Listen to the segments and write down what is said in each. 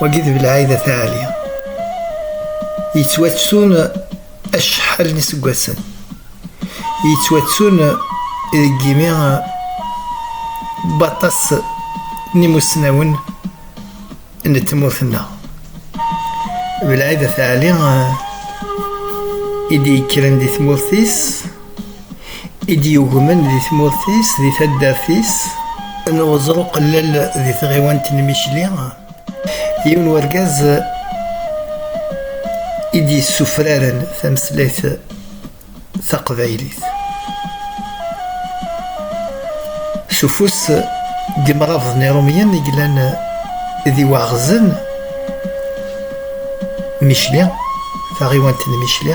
wagi d belɛayda taɛali yettwattun acḥal n iseggasen yettwattun deg yimi baṭas n imusnawen n tmurt-nneɣ belɛayda taɛali i d-yekkren di tmurt-is i d-yugmen di tmurt-is, di taddart-is, n uẓru qellel di tɣiwant n Micli, yiwen wergaz i d-yessufraren tameslayt taqbaylit. S ufus n yimrabḍen irumyen i yellan d iwaɣzen Micli, taɣiwant n Micli,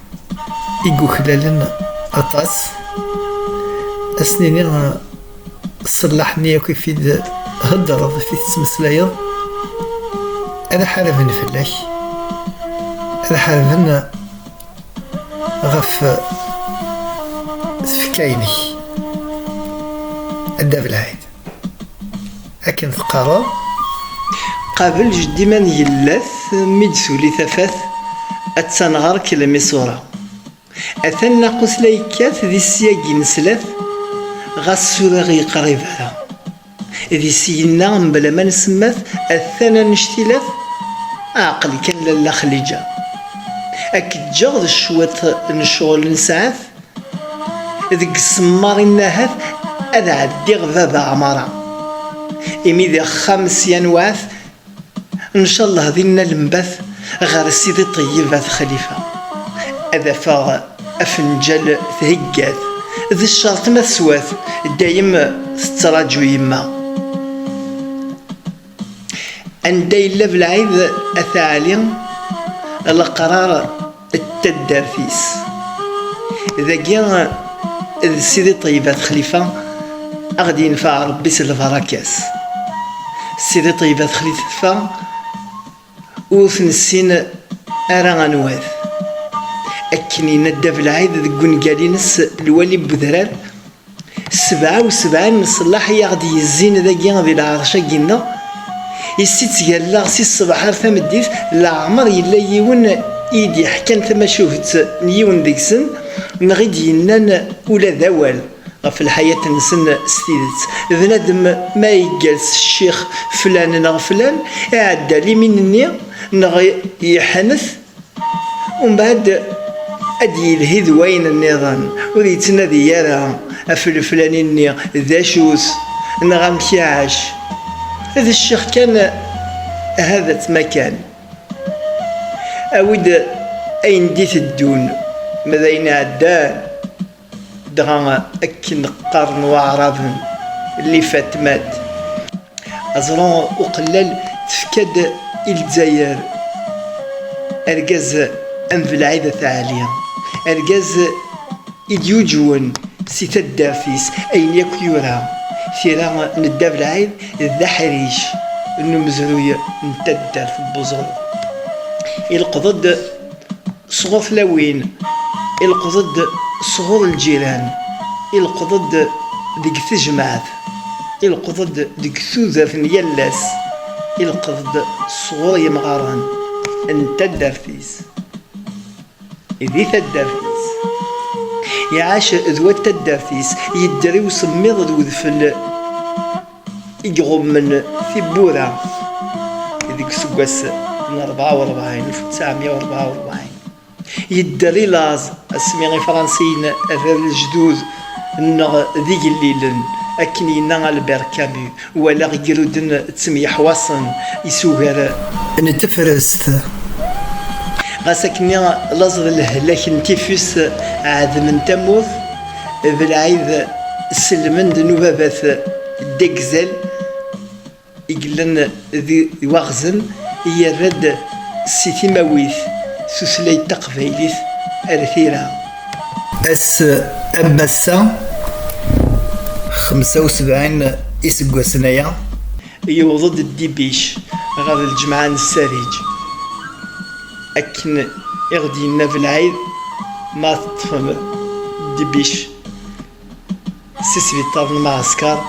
i yuklalen aṭas ad s-nini ṣṣellaḥ-nni akk i t-id-theddreḍ i t-id-tettmeslayeḍ ad ḥarben fell-ak ad ḥarben ɣef tfekka-inek ad d-abelɛid Akken teqqareḍ. Qabel jeddi ma ngellat mi d-tuli tafat attan ɣer-k lmisura. Atan naqus la yekkat di syagi n slat ɣas suriɣ yeqrib ara. Di syenna mebla ma nsemmat atan anect-ilat aɛqel kan lalla Xlija. Ad k-ǧǧeɣ d cwiṭ n ccɣel n ssaɛat. Deg semmaṛ i nahat ad ɛeddiɣ baba Ɛmara, imi di axxam sya newɛat, ncallah dinna lembat ɣer Sidi Ṭeyyeb At Xalifa, ad afeɣ afenǧal thegga-t, d ccerṭ ma teswa-t, dayem tettraǧu yemma. anda yella belɛid at ɛli leqrar d taddart-is dagi d sidi ṭeybat xlifa a ɣ-d-yenfeɛ rebbi s lbarakat sidi ṭeybat xlifa Ur t-nessin ara anwa-t. Akken yenna Dda Belɛid deg ungal-ines Lwali n Udrar, Sebɛa u sebɛin n ṣṣellaḥ i aɣ-d-yezzin dagi di lɛerc-agi-nneɣ, i s-itt-galleɣ si ṣṣbeḥ ar tameddit, leɛmer yella yiwen i yi-d-yeḥkan tamacuht n yiwen deg-sen, neɣ i d-yennan ula d awal. ɣef lḥayat-nsen s tidet. D nadem ma yeggal s ccix flan neɣ flan, iɛedda limin-nni neɣ yeḥnet, umbeɛd ad d-yelhi d wayen nniḍen, ur yettnadi ara ɣef leflani-nni d acu-t neɣ amek iɛac, d ccix kan ahat ma kan awi-d ayen d-iteddun, ma d ayen iɛeddan. Dɣa akken qqaren waɛraben, Lifatmat, aẓru uqellal tefka-d i Lezzayer argaz am Belɛid At Ɛli, argaz i d-yuǧwen si taddart-is ayen yakk yura, tira n Dda Belɛid d aḥric n umezruy n taddart n Buẓul. Ileqḍ-d Sɣur tlawin, ileqḍ-d sɣur lǧiran, ileqḍ-d deg tejmaɛt, ileqḍ-d deg tudert n yal ass, ileqḍ-d sɣur yemɣaren n taddart-is di taddart-is. Iɛac d wat taddart-is, yedder i usemmiḍ d udfel. i iɣummen tiwwura deg useggas n rebɛa u rebɛin, alef u ttɛemya u rebɛa u rebɛin, yedder i laẓ asmi Ifṛansiyen rran lejdud nneɣ d igellilen, akken yenna Albert Camus, walaɣ igruden ttemyeḥwaṣen isugar n tefrest, ɣas akkenni laẓ d lehlak n tifus ɛedmen tamurt. d lɛid sellmen d nubabat degzal i yellan d waɣzen yerra-d si timawit tutlayt taqbaylit ar tira. Ass am wass-a xemsa u sebɛin iseggasen aya, yewweḍ-d Ddibic ɣer lǧemɛa n Ssariǧ. Akken i ɣ-d-yenna Belɛid, ma teṭṭfem Dbic si sbiṭar n Mɛasker,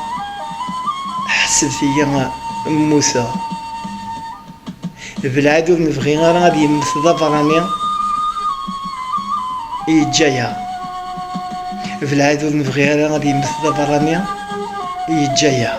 ḥesbet-iyi mmuteɣ. Belɛid ur nebɣi ara ad yemmet d aberrani, yeǧǧa-yaɣ. Belɛid ur nebɣi ara ad yemmet d aberrani, yeǧǧa-yaɣ.